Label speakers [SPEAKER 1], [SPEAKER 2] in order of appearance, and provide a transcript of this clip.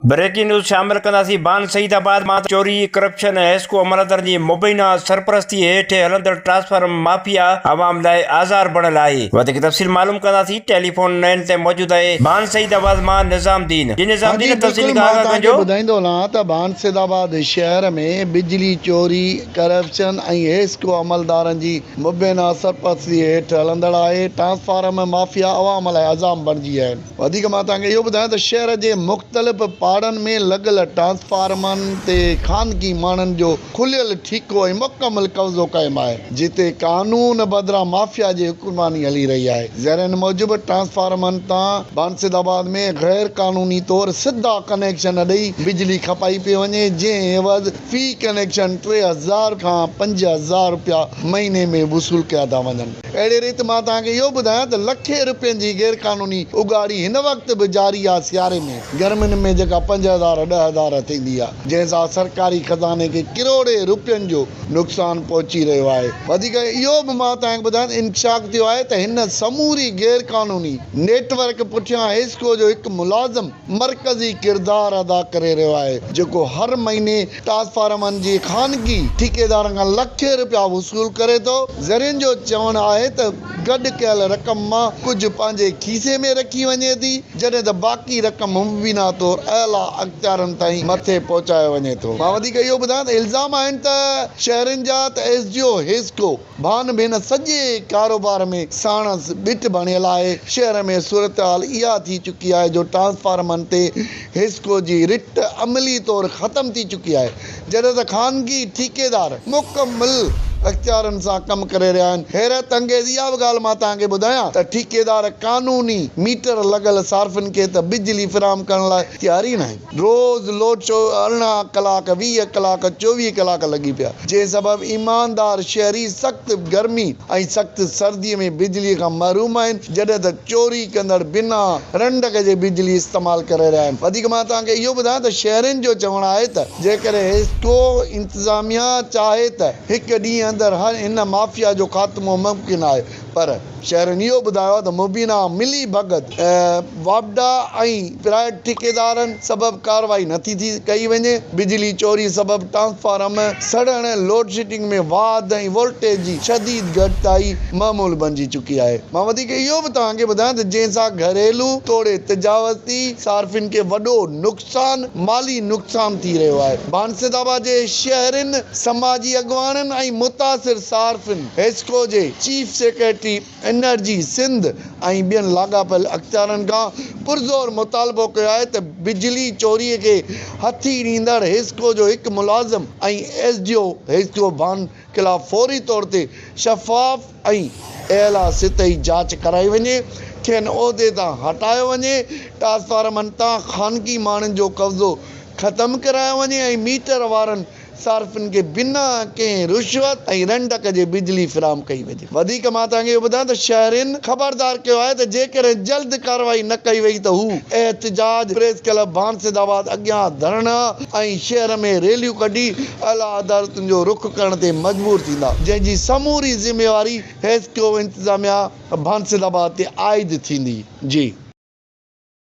[SPEAKER 1] Breaking news شامل ڪنداسين بان سعيد آباد مان چوري، ڪرپشن ۽ حيسڪو عملدڙ جي مبينا سرپرستي هيٺ هلندڙ ٽرانسفارم مافيا عوام لاء آزار بڻيل آهي وڌيڪ تفصيل معلوم ڪنداسين ٽيليفون لائين تي موجود آهي بان سعيد آباد مان نظام الدين جي نظام الدين جي تفصيلي کان آگاهه ڪجو. ٻڌائيندو هلان ته بان
[SPEAKER 2] سيد آباد شهر ۾ بجلي چوري، ڪرپشن ۽ حيسڪو عملدارن جي مبينا سرپرستي هيٺ هلندڙ آهي ٽرانسفارم مافيا عوام لاء عذاب بڻجي آهي. وڌيڪ مان توهان کي اهو ٻڌايان ته شهر جي مختلف پاڙن ۾ لڳل ٽرانسفارمرن تي خانگي ماڻهن جو کليل ٺيڪو ۽ مڪمل قبضو قائم آهي جتي قانون بدران مافيا جي حڪمراني هلي رهي آهي زيرين موجب ٽرانسفارمرن تان بانسد آباد ۾ غير قانوني طور سڌا ڪنيڪشن ڏئي بجلي کپائي پئي وڃي جنهن عيوض في ڪنيڪشن ٽي هزار کان پنج هزار رپيا مهيني ۾ وصول ڪيا ٿا وڃن. اهڙي ريت مان توهان کي اهو ٻڌايان ته لکين روپين جي غير قانوني اڳاڙي هن وقت به جاري آهي سياري ۾ گرمين ۾ جيڪا پنج هزار ڏهه هزار ٿيندي آهي جنهن سان سرڪاري خزاني کي ڪروڙين روپين جو نقصان پهچي رهيو آهي وڌيڪ اهو به مان توهان کي ٻڌايان ته انڪشاف ٿيو آهي ته هن سموري غير قانوني نيٽ ورڪ پٺيان حيسڪو جو هڪ ملازم مرڪزي ڪردار ادا ڪري رهيو آهي، جيڪو هر مهيني ٽرانسفارمرن جي خانگي ٺيڪيدارن کان لکين رپيا وصول ڪري ٿو، ذريعن جو چوڻ آهي ته گڏ ڪيل رقم مان ڪجهه پنهنجي کيسي ۾ رکي وڃي ٿي، جڏهن ته باقي رقم مبينا طور اعليٰ اختيارن تائين مٿي پهچايو وڃي ٿو. مان وڌيڪ اهو ٻڌايان ته الزام آهن ته شهرين جا ته S D O HESCO, Bhan ڀين سڄي ڪاروبار ۾ ساڻس ٻيٽ بڻيل آهي، شهر ۾ صورتحال اها ٿي چڪي آهي جو ٽرانسفارمرن تي حسڪو جي رٽ عملي طور ختم ٿي چڪي آهي، جڏهن ته خانگي ٺيڪيدار مڪمل اختيارن سان ڪم ڪري رهيا آهن، حيرت انگيز اها به ڳالهه مان توهان کي ٻڌايان ته ٺيڪيدار قانوني ميٽر لڳل صارفين کي ته بجلي فراهم ڪرڻ لاء تيار ئي ناهن. روز لوچو ارڙهن ڪلاڪ، ويهه ڪلاڪ، چوويهه ڪلاڪ لڳي پيا، جنهن سبب ايماندار شهري سخت گرمي ۽ سخت سردي ۾ بجلي کان محروم آهن، جڏهن ته چوري ڪندڙ بنا رنڊڪ جي بجلي استعمال ڪري رهيا آهن. وڌيڪ مان توهان کي اهو ٻڌايان ته شهرين جو چوڻ آهي ته جيڪڏهن حيسڪو انتظاميا چاهي ته هڪ ڏينهن اندر هن مافيا جو خاتمو ممڪن آهي، پر شهرين اهو ٻڌايو ته مبينا ملي ڀڳت، واپڊا ۽ پرائيويٽ ٺيڪيدارن سبب ڪارروائي نٿي ٿي ڪئي وڃي، بجلي چوري سبب ٽرانسفارم سڙڻ، لوڊشيڊنگ ۾ واڌ ۽ وولٽيج جي شديد گهٽتائي معمول بنجي چڪي آهي. مان وڌيڪ اهو به توهان کي ٻڌايان ته جنهن سان گهريلو توڙي تجاوزتي صارفين کي وڏو نقص. سان مالي نقصان ٿي رهيو آهي، بانسد آباد جي شهرين، سماجي اڳواڻن ۽ متاثر صارفين حيسڪو جي چيف سيڪريٽري انرجي سنڌ ۽ ٻين لاڳاپيل اختيارن کان پرزور مطالبو ڪيو آهي ته بجلي چوري کي هٿي ڏيندڙ حيسڪو جو هڪ ملازم ۽ S D O HESCO Bhan خلاف فوري طور تي شفاف ۽ اعليٰ سطحي جاچ ڪرائي وڃي، کين عهدي تان هٽايو وڃي، ٽرانسفارمن تان خانگي ماڻهن جو قبضو ختم ڪرايو وڃي ۽ ميٽر وارن صارفين کي بنا ڪنهن رشوت ۽ رنڊڪ جي بجلي فراهم ڪئي وڃي. وڌيڪ مان توهان کي اهو ٻڌايان ته شهرين خبردار ڪيو آهي ته جيڪڏهن جلد ڪارروائي نه ڪئي وئي ته هو احتجاج، پريس ڪلب ڀانسيد آباد اڳيان ڌرڻا ۽ شهر ۾ ريليون ڪڍي اعليٰ عدالتن جو رخ ڪرڻ تي مجبور ٿيندا، جنهن جي سموري ذميواري حيسڪو انتظاميا ڀانسيد آباد تي عائد ٿيندي. جي.